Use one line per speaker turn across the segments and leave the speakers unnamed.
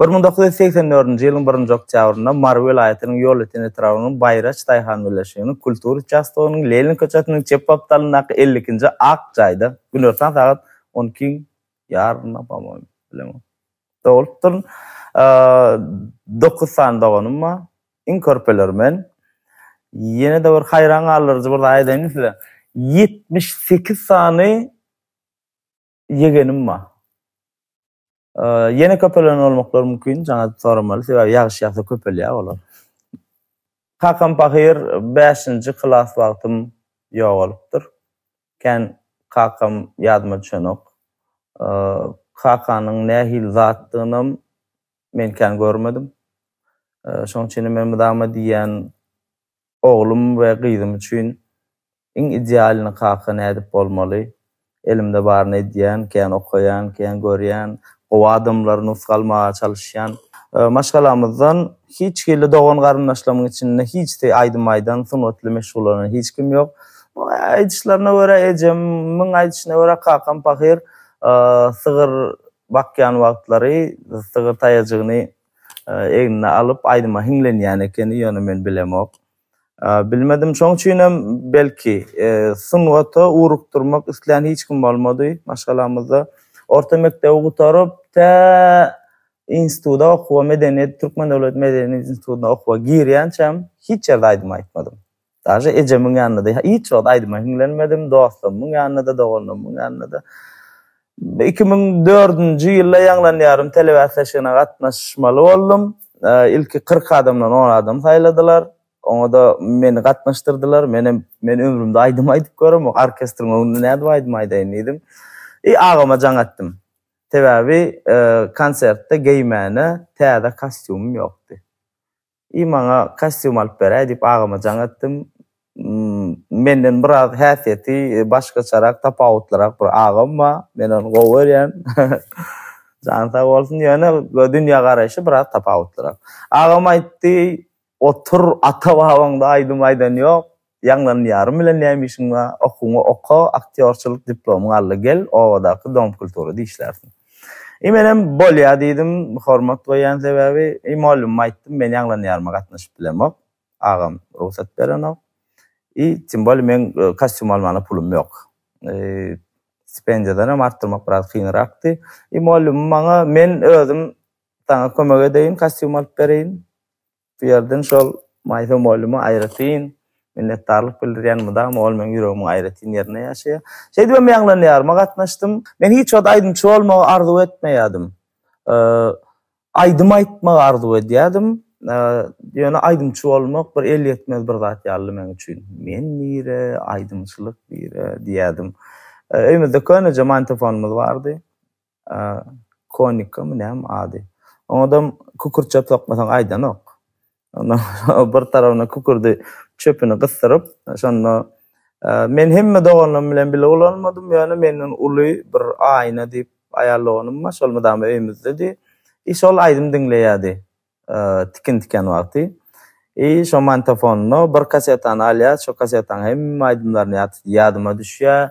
Bir müň dokuz ýüz segsen
dördünji ýylyň birinji oktýabrynda Mary welaýatynyň Ýolöten etrabynyň Baýraç daýhan birleşiginiň kultura uçastogynyň Lenin köçesiniň çep gapdalyndaky elli ikinji ak jaýda, günortan sagat on ikiň ýarymynda, po-moýmy, bilemok, dogulupdyryn. Dokuz sany doganym bar. Iň körpeleri men. Ýene-de bir haýran galdyryjy bir zat aýdaýynmy size? Ýetmiş sekiz sany ýegenim bar. Ýene köpelen bolmaklar mümkin, jaňa soramaly, sebäbi ýagyş ýagsa köpelýär olar. Kakam pahyr, bäşinji klas wagtym ýogalypdyr. Kän kakam ýadyma düşenok. Kakanyň nähili zatdygynam men kän görmedim. Şonuň üçinem men mydama diýýän, Oglum we gyzym üçin iň idealny kaka nädip bolmaly? Elimde baryny edýän, kän okaýan, kän görýän, gowy adamlary nusga almaga çalyşýan. Maşgalamyzdan hiç hili dogan-garyndaşlarymyň içinde hiçsi aýdym aýdan, sungat bilen meşgullanan hiç kim ýok. Aýdyşlaryna görä ejemiň aýdyşyna görä kakam pahyr sygyr bakýan wagtlary sygyr taýajygyny egnine alyp, aýdyma hiňlenýän ekeni, ýöne men bilemok. Bilmedim, şoň üçinem, belki, sungata ugrukdyrmak islän hiç kim bolmady maşgalamyzda. Orta mekdebi gutaryp, tä instituta okuwa, medeniýet, Türkmen döwlet medeniýet institutyna okuwa girýänçäm hiç ýerde aýdym aýtmadym. Daže ejemiň ýanynda-da hiç wagt aýdyma hiňlenmedim, dostlarymyň ýanynda-da, doganlarymyň ýanynda-da. Iki müň dördünji ýylda ýaňlanýarym, telebäsleşigine gatnaşmaly boldum. Ilki kyrk adamdan on adam saýladylar. Oňa-da meni gatnaşdyrdylar. Menem, Men ömrümde aýdym aýdyp göremok, orkestriň öňünde nädip aýdym aýdaýyn diýdim. I agama jaň etdim. Sebäbi konsertde geýmäne täze kostýumym ýokdy. I maňa kostýum alyp beräý diýip agama jaň etdim. Menden biraz häsiýeti başgaçarak, tapawutlyrak bir agam bar. Men ony gowy görýän. Jany sag bolsun. Ýöne dünýä garaýşy biraz tapawutlyrak. Agam aýtdy, Otur, ata-babaň-da aýdym aýdany ýok. Ýaňlanym ýarym bilen näme işiň bar? Okuwyňy oka, aktýorçylyk diplomyňy al-da gel, obadaky Dom kulturada işlärsiň. I menem bolýa diýdim, hormat goýýan sebäbi. I mugallymyma aýtdym, men ýaňlan ýaryma gatnaşyp bilemok, agam rugsat berenok. I tym bolýa meň kostýum almana pulum ýok. Stipendiýadan hem artdyrmak biraz kynrakdy. I mugallymym maňa, men özüm saňa kömek edeýin, kostýum alyp bereýin. Bu ýerden şol Maýsa mugallymyma aýratyn minnetdarlyk bildirýän, mydama ol meň ýüregimiň aýratyn ýerinde ýaşaýar. Şeýdibem ýaňlan ýaryma gatnaşdym. Men hiç wagt aýdymçy bolmagy arzuw etmeýärdim. Aýdym aýtmagy arzuw edýärdim. Ýöne aýdymçy bolmak bir elýetmez bir zat ýalydy meň üçin. Men nire, aýdymçylyk nire diýýärdim. Öýmüzde köneje mantofonymyz bardy. Konikami näme ady? Oňadam kükürtçe sokmasaň aýdanok. Onda bir tarabyna kükürdi çöpüni gysdyryp, şonda men hemme doganlarym bilen bile ulanmadym, ýöne menden uly bir Aýna diýip aýal doganym bar, şol mydama öýmüzdedi. I şol aýdym diňleýärdi. Tikin tiken wagty. I şo mantofonda bir kasetany alýas, şo kasetaň hemme aýdymlaryny ýatydy. Ýadyma düşýä,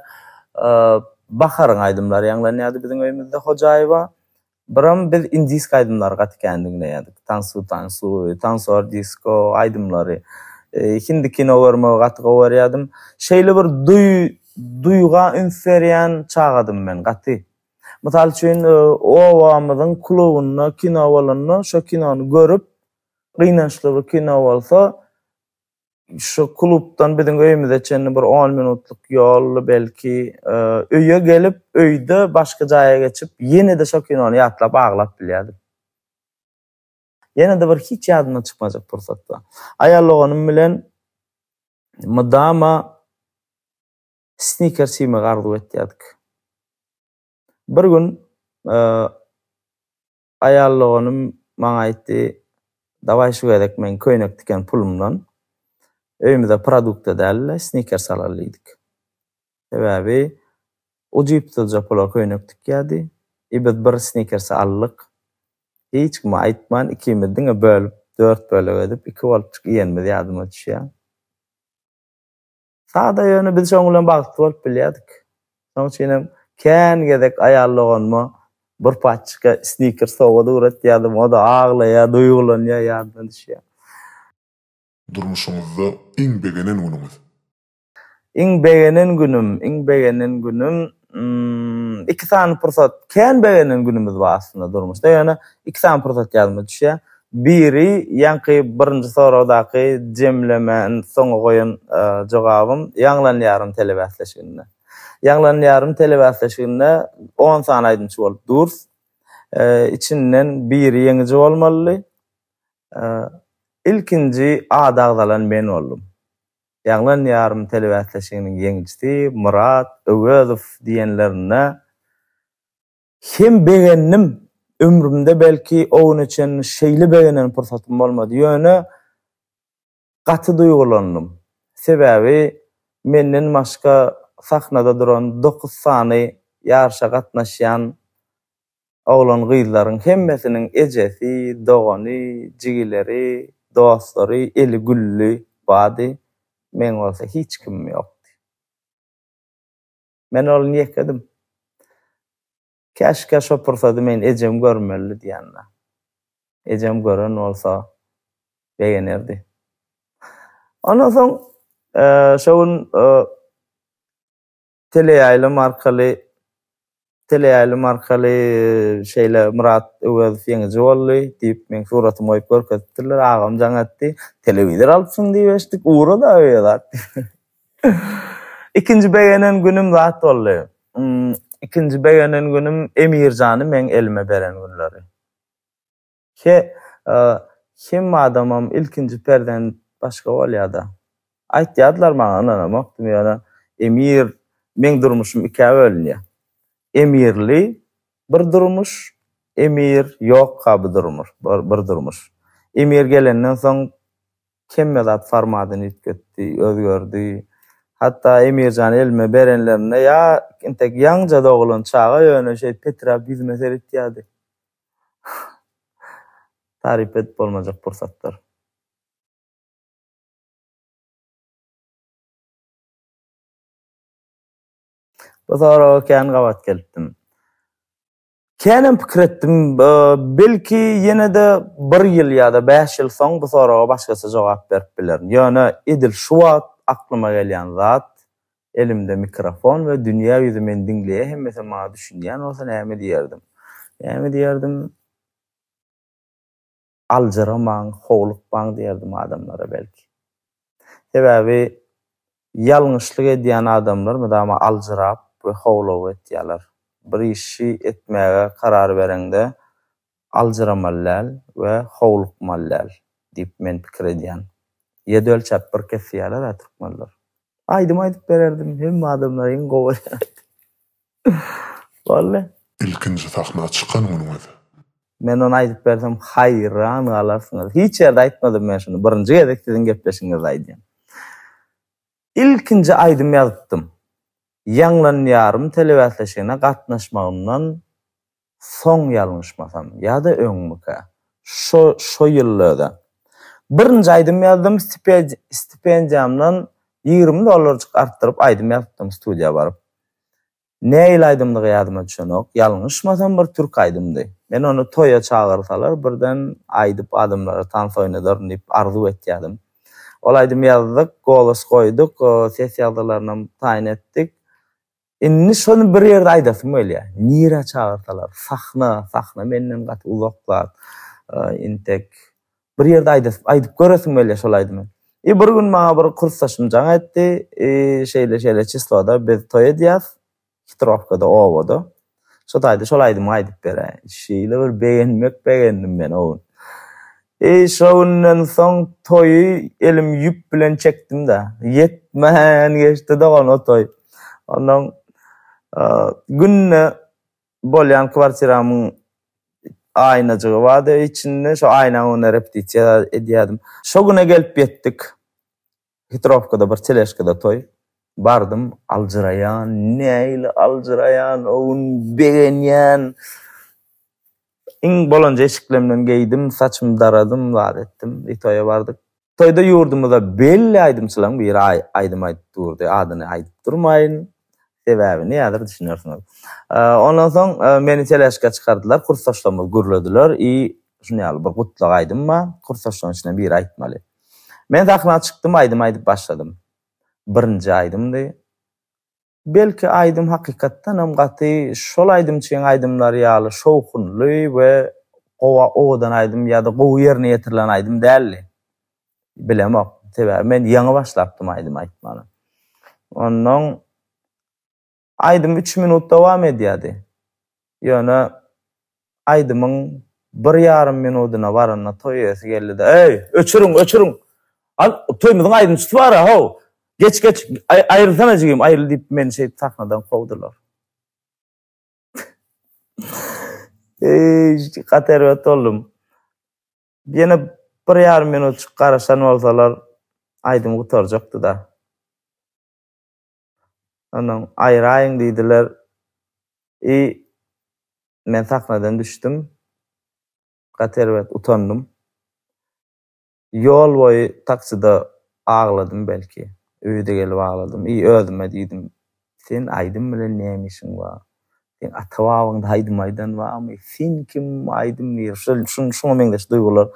Baharyň aýdymlary ýaňlanýady biziň öýümizde Hojaýewa. Biram biz indisk aýdymlary gaty kän diňleýädik. Tansu tansu, tansor disko aýdymlary. Hindi kino görmegi gaty gowarýadym. Şeýle bir duý duýga üns berýän çagadym men gaty. Mysal üçin, obamyzyň klubynda kino bolanda, şo kinony görüp, gynançly bir kino bolsa, şu klubdan biziň öýümize çenli bir on minutlyk ýoldy belki, öýe gelip, öýde başga jaýa geçip, ýene-de şo kinony ýatlap aglap bilýärdim. Ýene-de bir hiç ýadymdan çykmajak pursatda, aýal doganym bilen mydama snikers iýmegi arzuw etýärdik. Bir gün aýal doganym maňa aýtdy, Dawaý şu gezek men köýnek tiken pulumdan öýümize produkta däl-de snikers alaly diýdik. Sebäbi ujypsyzja pula köýnek tikýärdi. I biz bir snikers aldyk. Hiç kime aýtman ikimiz diňe bölüp, dört bölek edip iki bolupjyk iýenimiz ýadyma düşýär. Sada ýöne biz şoň bilen bagtly bolup bilýärdik. Şoň üçin hem kän gezek aýal doganyma bir paçka sniker sowgat ugratýardym, o-da aglaýar, duýgulanýar, ýadyna düşýär. Durmuşyňyzda
iň begenen günüňiz? Iň begenen
günüm, iň begenen günüm Hmmm iki sany pursat kän begenýän günimiz bar aslynda durmuşda ýöne iki sany pursat ýadyma düşýär. Biri ýaňky birinji soragdaky jemlemän soňa goýan jogabym Ýaňlanýarym telebäsleşiginde. Ýaňlanýarym telebäsleşiginde on sany aýdymçy bolup durs. Içinden biri ýeňiji bolmalydy. Ilkinji at agzalan men boldum. Ýaňlan ýarym telebäsleşiginiň ýeňijisi Myrat Öwezow diýenlerinde hem begendim. Ömrümde belki o güne çenli şeýle begenen pursatym bolmady. Ýöne gaty duýgulandym. Sebäbi menden başga sahnada duran dokuz sany ýaryşa gatnaşýan Oglan-gyzlaryň hemmesiniň ejesi, dogany, jigileri, dostlary, eli gülli, bady, meň bolsa hiç kimim ýokdy. Men oglun ýekedim. Käşgä şo pursady men ejemi görmelidi diýende, ejem gören bolsa begenerdi. Ondan soň şo gün teleýaýlym arkaly teleýaýlym arkaly şeýle Myrat Öwezow ýeňiji boldy diýip meň suratymy goýup görkezipdirler. Agam jaň etdi. Telewizor alypsyň diýip eşitdik. Ura-da öýe zat. Ikinji begenen günüm zat boldy. Ikinji begenen günüm Emirjany meň elime beren günleri. He, hemme adamam ilkinji perzent başga bolýar-da. Aýtýardylar maňa, ynanamakdym, ýöne Emir, meň durmuşym ikä bölünýär. Emirli bir durmuş, Emir, ýokka bu durmuş, bir durmuş. Emir gelenden soň hemme zat formadyny üýtgetdi, özgerdi. Hatda Emirjany elime berenlerinde ýa entek ýaňja doglan çaga ýöne şeýdip peträp ýüzüme seretýärdi. Taryp edip bolmajak pursatlar. Bu soraga kän gabat gelipdim. Känem pikir etdim, belki ýene-de bir ýyl ýa-da bäş ýyl soň bu soraga başgaça jogap berip bilerin. Ýöne edil şu wagt aklyma gelýän zat, Elimde mikrofon we dünýä ýüzi meni diňleýä hemmesi maňa düşünýän bolsa näme diýerdim? Näme diýerdim? Aljyramaň, howlukmaň diýerdim adamlara belki. Sebäbi ýalňyşlyk edýän adamlar mydama aljyrap we howlugyp etýärler. Bir işi etmäge karar bereňde Aljyramaly däl we howlukmaly däl diýip men pikir edýän. Ýedi ölçäp bir kes diýýärler-ä türkmenler. Aýdym aýdyp bererdim, hemme adamlar iň gowy aýdym aýdýar. Boldy. Ilkinji sahna
çykan günüňiz. Men ony
aýdyp bersem haýran galarsyňyz. Hiç ýerde aýtmadym men şuny, birinji gezek siziň gepleşigiňizde aýdýan. Ilkinji aýdym ýazypdym. Ýaňlanýarym telebäsleşigine gatnaşmagymdan soň ýalňyşmasam, ýa-da öňmikä, şo, şo ýylda-da, birinji aýdym ýazdym, stipendiýamdan ýigrimi dollarjyk artdyryp aýdym ýazypdym studiýa baryp. Nähili aýdymdygy ýadyma düşenok, ýalňyşmasam bir türk aýdymdy. Men ony toýa çagyrsalar birden aýdyp adamlara tans oýnadaryn diýip arzuw etýädim. Ol aýdymy ýazdyk, golos goýduk, ses ýagdalaryny taýyn etdik. Indi şony bir ýerde aýdasym gelýär. Nirä çagyrsalar, sahna, sahna menden gaty uzak zat. Intek bir ýerde aýdasym, aýdyp göresim gelýär şol aýdymy. I bir gün maňa bir kursdaşym jaň etdi. I şeýle-şeýle çisloda biz toý edýäs. Hitrowkada, obada. Şo taýda şol aýdymy aýdyp beräý. Şeýle bir begenmek begendim men o gün. Eý, şo günden soň toýy elim ýüp bilen çekdim-dä. Ýetmän geçdi dogan o toý. Onnoň günde bolýan kwartiramyň aýnajygy bardy içinde, şo aýnaň öňünde repetisiýa edýärdim. Şo güne gelip ýetdik. Hitrowkada bir teležkada toý. Bardym, aljyraýan, nähili aljyraýan, o gün begenýän. Iň bolanja eşiklemden geýdim, saçymy daradym, zat etdim, bir toýa bardyk. Toýda ýurdumyzda belli aýdymçylaryň biri aýdym aýdyp durdy, adyny aýdyp durmaýyn. Sebäbi, nädür düşünersiňiz. Ondan soň meni teleşka çykardylar, kursdaşlarymyz gürlediler, i şuny ýaly bir gutlag aýdym bar, kursdaşlaryň içinden biri aýtmaly. Men sahna çykdym, aýdym aýdyp başladym. Birinji aýdymdy. Belki aýdym hakykatdanam gaty şol aýdymçyň aýdymlary ýaly şowhunly we gowa owadan aýdym ýa-da gowy ýerine ýetirilen aýdym däldi. bilemok. Sebäbi men ýaňy başlapdym aýdym aýtmana. Onnoň aýdym üç minut dowam edýärdi. Ýöne aýdymyň bir ýarym minudyna baranda toý eýesi geldi-de, Eý, öçüriň, öçüriň! Al, toýumyzyň aýdymçysy bar-a, how! Geç, geç, aýrylsana jigim, aýryl diýip, meni şeýdip sahnadan kowdular. Eý, gaty erbet boldum. Ýene bir ýarym minutjyk garaşan bolsalar, aýdym gutarjakdy-da. Ondan aýyraýyň diýdiler. I men sahnadan düşdüm. Gaty erbet utandym. Ýol boýy taksida agladym belki. Öýe-de gelip agladym. I özüme diýdim, Sen aýdym bilen näme işiň bar? Seň ata babaňda aýdym aýdan barmy? Sen kim aýdym diýer? Şol şun şuňa meňzeş duýgular.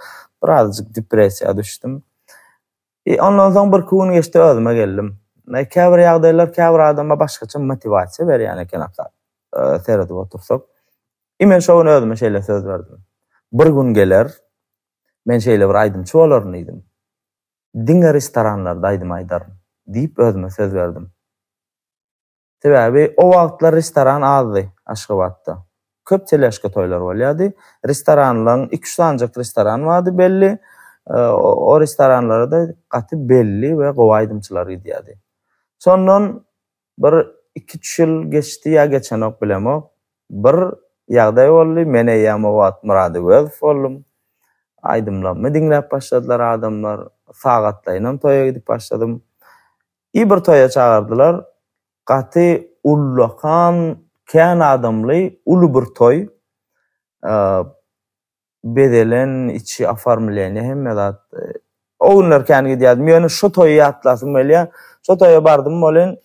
Birazajyk depressiýa düşdüm. I ondan soň birki gün geçdi özüme geldim. Näe käbir ýagdaýlar käbir adama başgaça motiwasiýa berýän eken aka seredip otursak. I men şo gün özüme şeýle söz berdim. Bir gün geler men şeýle bir aýdymçy bolaryn diýdim. Diňe restoranlarda aýdym aýdaryn, diýip özüme söz berdim. Sebäbi o wagtlar restoran azdy Aşgabatda. Köp teleşka toýlar bolýardy. Restoranlaryň iki-üç sanjak restoran bardy belli. O restoranlara-da gaty belli we gowy aýdymçylar gidýärdi. Şondan Bir iki üç ýyl geçdi ýa geçenok bilemok. Bir ýagdaý boldy men eýýäm o wagt Myrat Öwezow boldum. Aýdymlarymy diňläp başladylar adamlar. Sagatlaýynam toýa gidip başladym. I bir toýa çagyrdylar. Gaty ullakan kän adamly uly bir toý. bezelen içi oformleniýa hemme zat o günler kän gidýärdim ýöne şo toýy ýatlasym gelýä şo toýa bardym bolin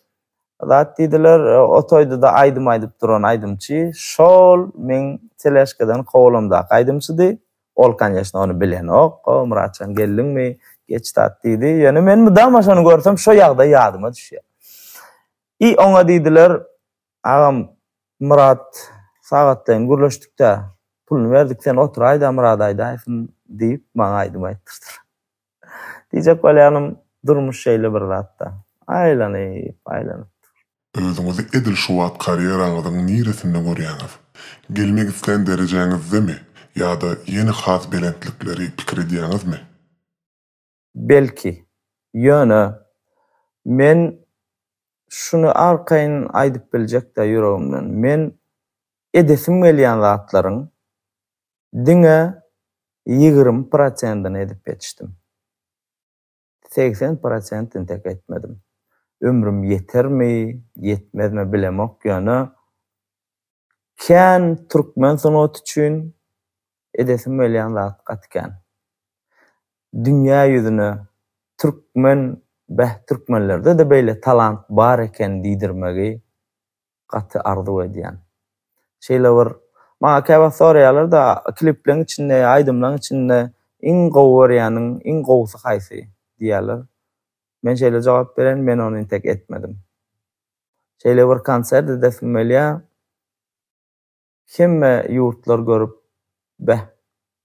zat diýdiler o toýda-da aýdym aýdyp duran aýdymçy şol meň teleşkadan kowalamdaky aýdymçydy ol konýeçno ony bilenok o Myratjan geldiňmi geç zat diýdi ýöne men mydama şony görsem şo ýagdaý ýadyma düşýä i oňa diýdiler Agam Myrat sagatlaýyn gürleşdikdä puluny berdik sen oturaýda Myrada aýdaýsyn diýip maňa aýdym aýtdyrdylar. Diýjek bolýanym durmuş şeýle bir zatda. Aýlanyp aýlanyp dur.
Özüňizi edil şu wagt karýeraňyzyň niresinde görýäňiz? Gelmek islän derejäňizdemi ýa-da ýene has belentlikleri pikir edýäňizmi? Belki.
Ýöne, men şuny arkaýyn aýdyp biljek-dä ýüregimden, men edesim gelýän zatlaryň diňe ýigrimi prosentini edip ýetişdim. Segsen prosent entek etmedim. Ömrüm ýetermi, ýetmezmi bilemok, ýöne kän türkmen sungaty üçin edesim gelýän zat gaty kän. Dünýä ýüzüne türkmen, beh türkmenlerde-de beýle talant bar eken diýdirmegi gaty arzuw edýän. Şeýle bir maňa käwagt soraýarlar-da klipleriň içinde, aýdymlaryň içinde iň gowy görýäniň, iň gowusy haýsy diýýärler. Men şeýle jogap berýän, men ony intek etmedim. Şeýle bir konsert edesim gelýär. Hemme ýurtlar görüp, Beh,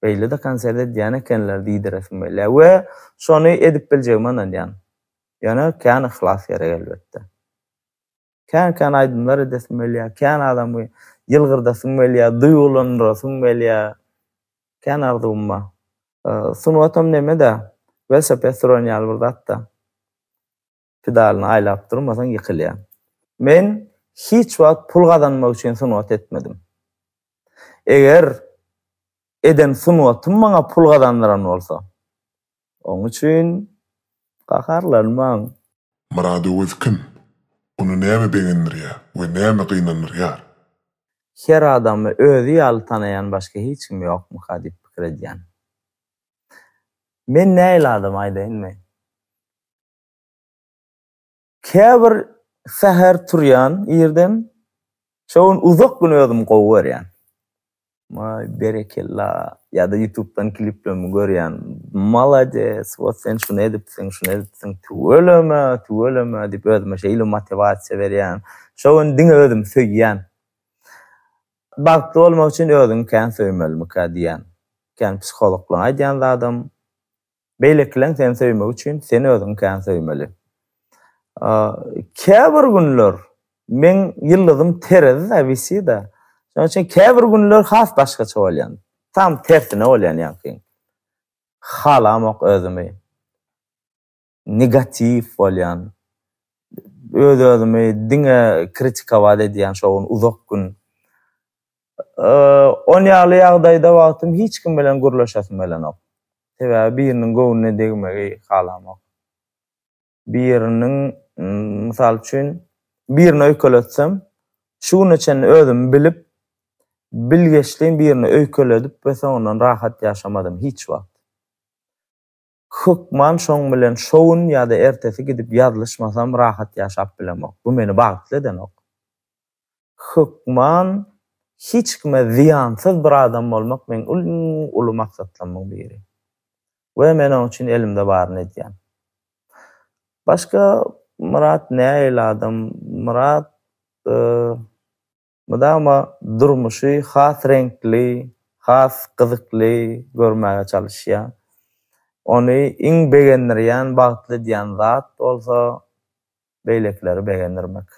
beýle-de konsert edýän ekenler diýdiresim gelýär we şony edip biljegime ynanýan. Ýöne kän yhlas gerek elbetde. Kän-kän aýdymlar edesim gelýär, kän adamy ýylgyrdasym gelýär, duýgulandyrasym gelýär. Kän arzuwym bar. Sungatam neme-dä, welosiped süren ýaly bir zat-da. pedalyny aýlap durmasaň ýykylýaň. Men hiç wagt pul gazanmak üçin sungat etmedim. Eger eden sungatym maňa pul gazandyran bolsa, oň üçin gaharlanmaň. Myrat
Öwez kim? Ony näme begendirýär we näme gynandyrýar? Her
adamy özi ýaly tanaýan başga hiç kim ýokmyka diýip pikir edýän. Men nähili adam aýdaýynmy? Käbir säher turýan irden, şo gün uzak gün özüm gowy görýän. Maý berekella ýa-da ýutubdan kliplerimi görýän, malades, wot sen şuny edipsiň, şuny edipsiň, tüweleme, tüweleme diýip özüme şeýle motiwasiýa berýän. Şo gün diňe özümi söýýän. Bagtly bolmak üçin özüňi kän söýmelimikä diýýän. Kän psihologlaryň aýdýan zadam, Beýlekileň seni söýmegi üçin sen özüňi kän söýmeli. Käbir günler meň ýyldyzym terezide wisida. Şonuň üçin käbir günler has başgaça bolýan. Tam tersine bolýan ýaňkyň. Halamok özümi. Negatiw bolýan. Öz-özümi diňe kritikowat edýän şo gün uzak gün. Ol ýaly ýagdaýda wagtym hiç kim bilen gürleşesim gelenok. Sebäbi biriniň göwnüne degmegi halamok. Biriniň, mysal üçin, birini öýkeletsem, şu güne çenli özümi bilip, bilgeşleýin birini öýkeledip we soňundan rahat ýaşamadym hiç wagt. Hökman şoň bilen şo gün ýa-da ertesi gidip ýazlyşmasam rahat ýaşap bilemok. Bu meni bagtly edenok. Hökman hiç kime zyýansyz bir adam bolmak meň iň uly maksatlarymyň biri. We men oň üçin elimde baryny edýän. Başga Myrat nähili adam? Myrat Mydama durmuşy has reňkli, has gyzykly görmäge çalyşýar. Ony iň begendirýän, bagtly edýän zat bolsa beýlekileri begendirmek.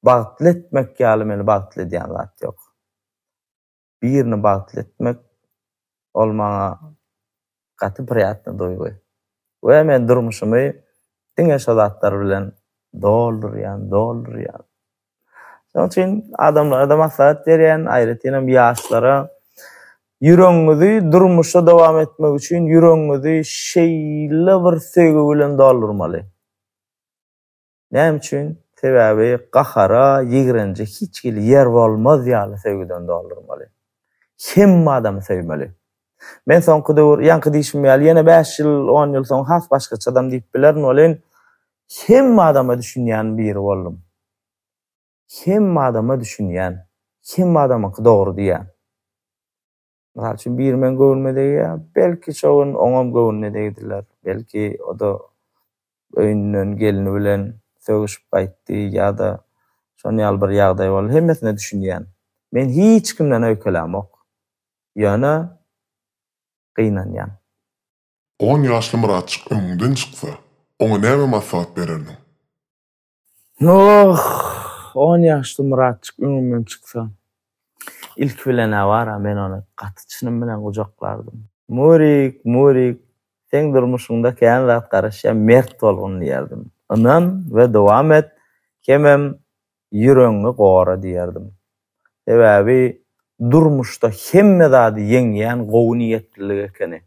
Bagtly etmek ýaly meni bagtly edýän zat ýok. birini bagtly etmek ol maňa gaty priýatnyý duýgy we men durmuşymy diňe şo zatlar bilen doldurýan, doldurýan. Şonuň üçin adamlara-da maslahat berýän, aýratynam ýaşlara ýüregiňizi durmuşda dowam etmek üçin ýüregiňizi şeýle bir söýgi bilen doldurmaly. Näme üçin? Sebäbi gahara, ýigrenje hiç hili ýer bolmaz ýaly söýgüden doldurmaly. Hemme adamy söýmeli. Men soňky döwür, ýaňky diýşim ýaly, ýene bäş ýyl, on ýyl soň has başgaça adam diýip bilerin welin, hemme adama düşünýän biri boldum. Hemme adama düşünýän, hemme adamyňky dogry diýýän. Mysal üçin, biri meň göwnüme degýär, belki, şo gün oňam göwnüne degdiler. Belki, o-da öýünden gelni bilen sögüşip gaýtdy ýa-da şon ýaly bir ýagdaý boldy. Hemmesine düşünýän. Men hiç kimden öýkelämok. Ýöne gynanýan.
On ýaşly Myratjyk öňüňden çyksa, oňa näme maslahat bererdiň? Noh!
On ýaşly Myratjyk öňümden çyksa, ilki bilen-ä bar-a men ony gaty çynym bilen gujaklardym. Murik, Murik, seň durmuşyňda kän zat garaşýar, mert bolgun diýerdim. Ynan we dowam et, hemem ýüregiňi gora diýerdim. Sebäbi durmuşda hemme zady ýeňýän gowy niýetlilik ekeni.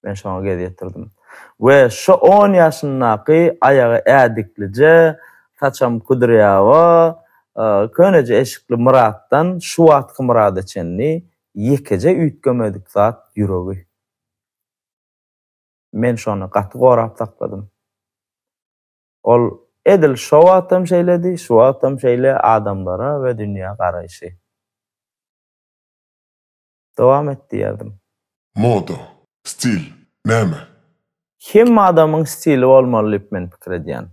Men şoňa gez ýetirdim. We şo on ýaşyndaky aýagy ädiklije, saçam kudrýawa, köneje eşikli Myratdan şu wagtky Myrada çenli ýekeje üýtgemedik zat ýüregi. Men şony gaty gorap sakladym. Ol edil şo wagtam şeýledi, şu wagtam şeýle adamlara we dünýä garaýşy. Dowam et diýerdim. Moda,
stil, näme? Hemme
adamyň stili bolmaly diýip men pikir edýän.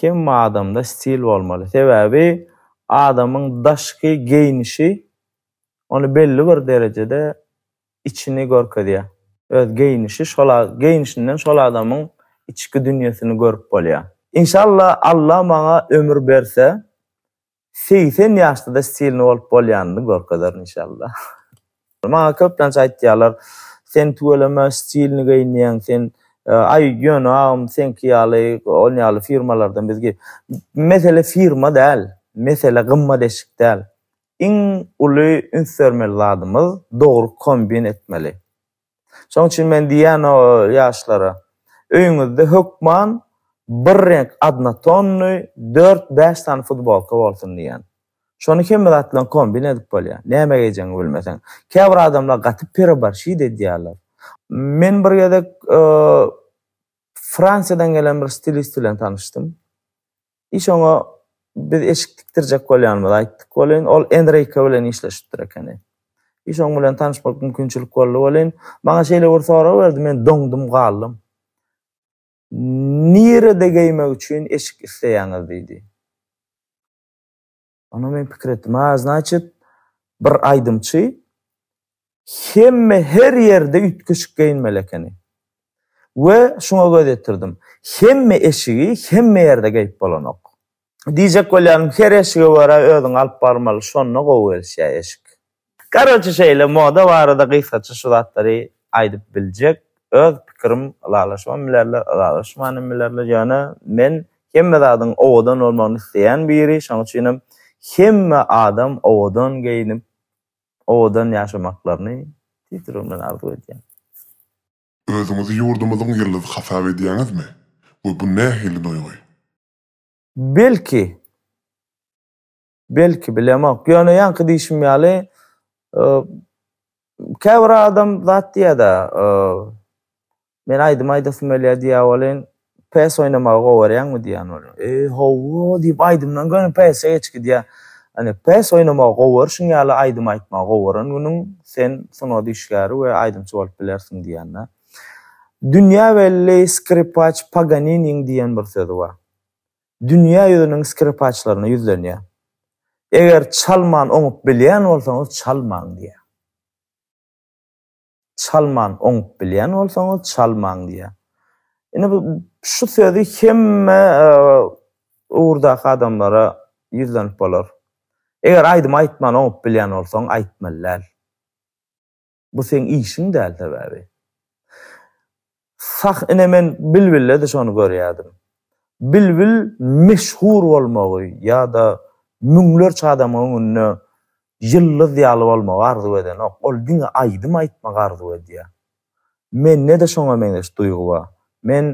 Hemme adamda stil bolmaly. Sebäbi adamyň daşky geýnişi ony belli bir derejede içini görkezýär. Öz geýnişi şol geýnişinden şol adamyň içki dünýesini görüp bolýar. Inşallah Alla maňa ömür berse Segsen ýaşda-da stilny bolup bolýanyny görkezerin inşallah. Maňa köplenç aýtýarlar, Sen tüweleme stilny geýinýäň, sen Aý, ýöne agam seňki ýaly, ol ýaly firmalardan biz geý. Mesele firma däl, mesele gymmat eşik däl. Iň uly üns bermeli zadymyz dogry kombin etmeli. Şonuň üçin men diýýän o ýaşlara, öýüňizde hökman bir reňk adnotonnyý dört-bäş sany futbolka bolsun diýýän. Şony hemme zat bilen kombin edip bolýar. Näme geýjegiňi bilmeseň. Käbir adamlar gaty pereborşit edýärler. Men bir gezek Fransiýadan gelen bir stilist bilen tanyşdym. Hiç oňa biz eşik tikdirjek bolýanymyzy aýtdyk welin, ol Enrike bilen işleşipdir ekeni. Hiç oň bilen tanyşmak mümkinçilik boldy welin, maňa şeýle bir sorag berdi, men doňdum galdym. Nirede geýmek üçin eşik isleýäňiz? diýdi. Onda men pikir etdim, a, znaçit, bir aýdymçy hemme her ýerde üýtgeşik geýinmeli ekeni. We şuňa göz ýetirdim. Hemme eşigi hemme ýerde geýip bolanok. Diýjek bolýanym, her eşige görä özüňi alyp barmaly, şonda gowy gelişýär eşik. Karoçi şeýle moda barada gysgaça şu zatlary aýdyp biljek öz pikirim ylalaşybam bilerler ylalaşmanam bilerler ýöne men hemme zadyň owadan bolmagyny isleýän biri şoň üçinem hemme adam owadan geýinip owadan ýaşamaklaryny tüýs ýüregim bilen arzuw edýän.
Özüňizi ýurdumyzyň ýyldyzy hasap edýäňizmi we bu nähili duýgy? Belki
Belki, bilemok. Ýöne ýaňky diýşim ýaly, käbir adam zat diýýär-de, men aýdym aýdasym gelýär diýýär welin, PS oýnamagy gowy görýäňmi diýýän welin, e, hawa diýip aýdymdan göni PS geçip gidýär. Ýani PS oýnamagy gowy görşüň ýaly aýdym aýtmagy gowy gören günüň sen sungat işgäri we aýdymçy bolup bilersiň diýýän-de. Dünýä belli skripaç Paganiniň diýen bir sözi bar. dünýä ýüzüniň skripaçlaryna ýüzlenýär. Eger çalman oňup bilýän bolsaňyz çalmaň diýýär. Çalman oňup bilýän bolsaňyz çalmaň diýýär. Indi bu şu sözi hemme ugurdaky adamlara ýüzlenip bolar. Eger aýdym aýtman oňup bilýän bolsaň aýtmaly däl. Bu seň işiň däl sebäbi. Sah ine men Bilbille-de şony görýärdim. Bilbil meşhur bolmagy ýa-da müňlerçe adamyň öňünde ýyldyz ýaly bolmagy arzuw edenok. Ol diňe aýdym aýtmagy arzuw edýär. Mende-de şoňa meňzeş duýgy bar. Men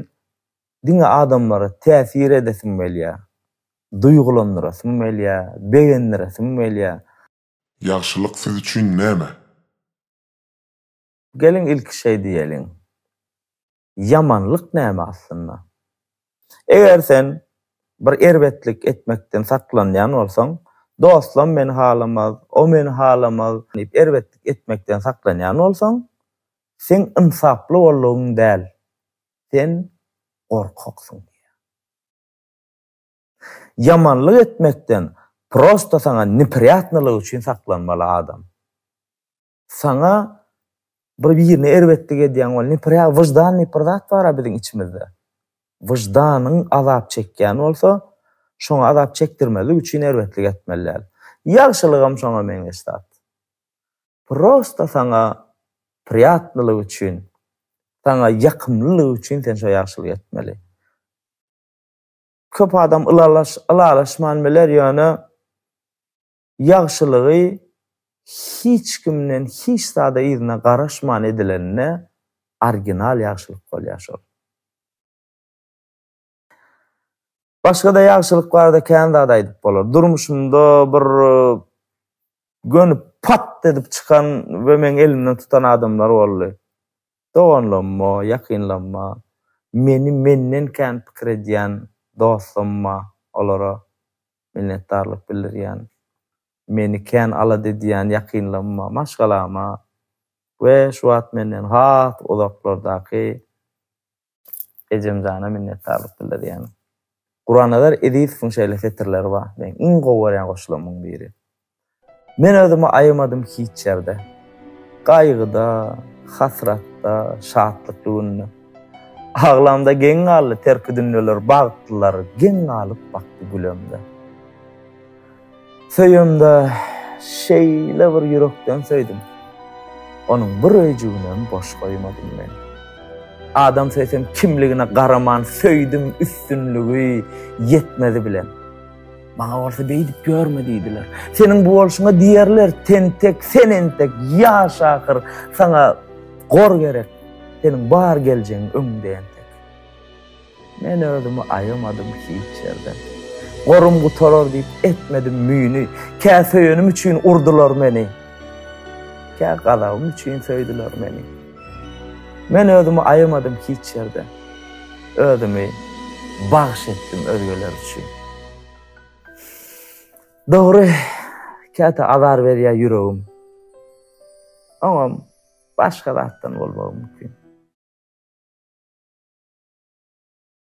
diňe adamlara täsir edesim gelýär. Duýgulandyrasym gelýär, begendiresim gelýär. Ýagşylyk
siz üçin näme?
Geliň ilki şeý diýeliň. Ýamanlyk näme aslynda? Eger sen bir erbetlik etmekden saklanýan bolsaň, dostlam meni halamaz, o meni halamaz diýip erbetlik etmekden saklanýan bolsaň, seň ynsaply boldugyň däl, sen gorkaksyň diýýär. Ýamanlyk etmekden prosta saňa neprýatnylygy üçin saklanmaly adam. Saňa bir birine erbetlik edýän bol, neprýa wyždan diýip bir zat bar-a biziň içimizde. Wyždanyň azap çekýän bolsa, şoňa azap çekdirmezlik üçin erbetlik etmeli däl. Ýagşylygam şoňa meňzeş zat. Prosta saňa prýatnylygy üçin, saňa ýakymlylygy üçin sen şo ýagşylygy etmeli. Köp adam ylalaşman biler, ýöne ýagşylygy hiç kimden hiç zada yzyna garaşman edilende orginal ýagşylyk bolýar şol. Başga-da ýagşylyk barada kän zat aýdyp bolar. Durmuşymda bir gönüp pat edip çykan we meň elimden tutan adamlar boldy. Doganlamma, ýakynlamma, meni menden kän pikir edýän dostlamma, olara minnetdarlyk bildirýän, meni kän alada edýän ýakynlamma, maşgalama we şu wagt menden has uzaklardaky Ejemjana minnetdarlyk bildirýän. Gurannazar Ezizowyň şeýle setirleri bar, meň iň gowy görýän goşularymyň biri. Men özümi aýamadym hiç ýerde. Gaýgyda, hasratda, şatlykly günde. Aglamda geň galdy terki dünýeler, bagtlylar geň galyp bakdy gülemde. Söýemde şeýle bir ýürekden söýdüm. Onuň bir öýjüginem boş goýmadym men. Adam söýsem kimligine garaman söýdüm üstünligi, ýetmezi bilen. Maňa bolsa beýdip ýörme diýdiler. Seniň bu bolşuňa diýerler, tentek, sen entek ýaş ahyr, saňa gor gerek, seniň bar geljegiň öňüňde entek. Men özümi aýamadym hiç ýerden. Gorym gutarar diýip etmedim müýni. Kä söýenim üçin urdular meni. Kä gazabym üçin söýdüler meni. Men özümi aýamadym hiç ýerden. Özümi bagş etdim özgeler üçin. Dogry, käte azar berýär ýüregim. Oňam. Başga zatdan bolmagy mümkin.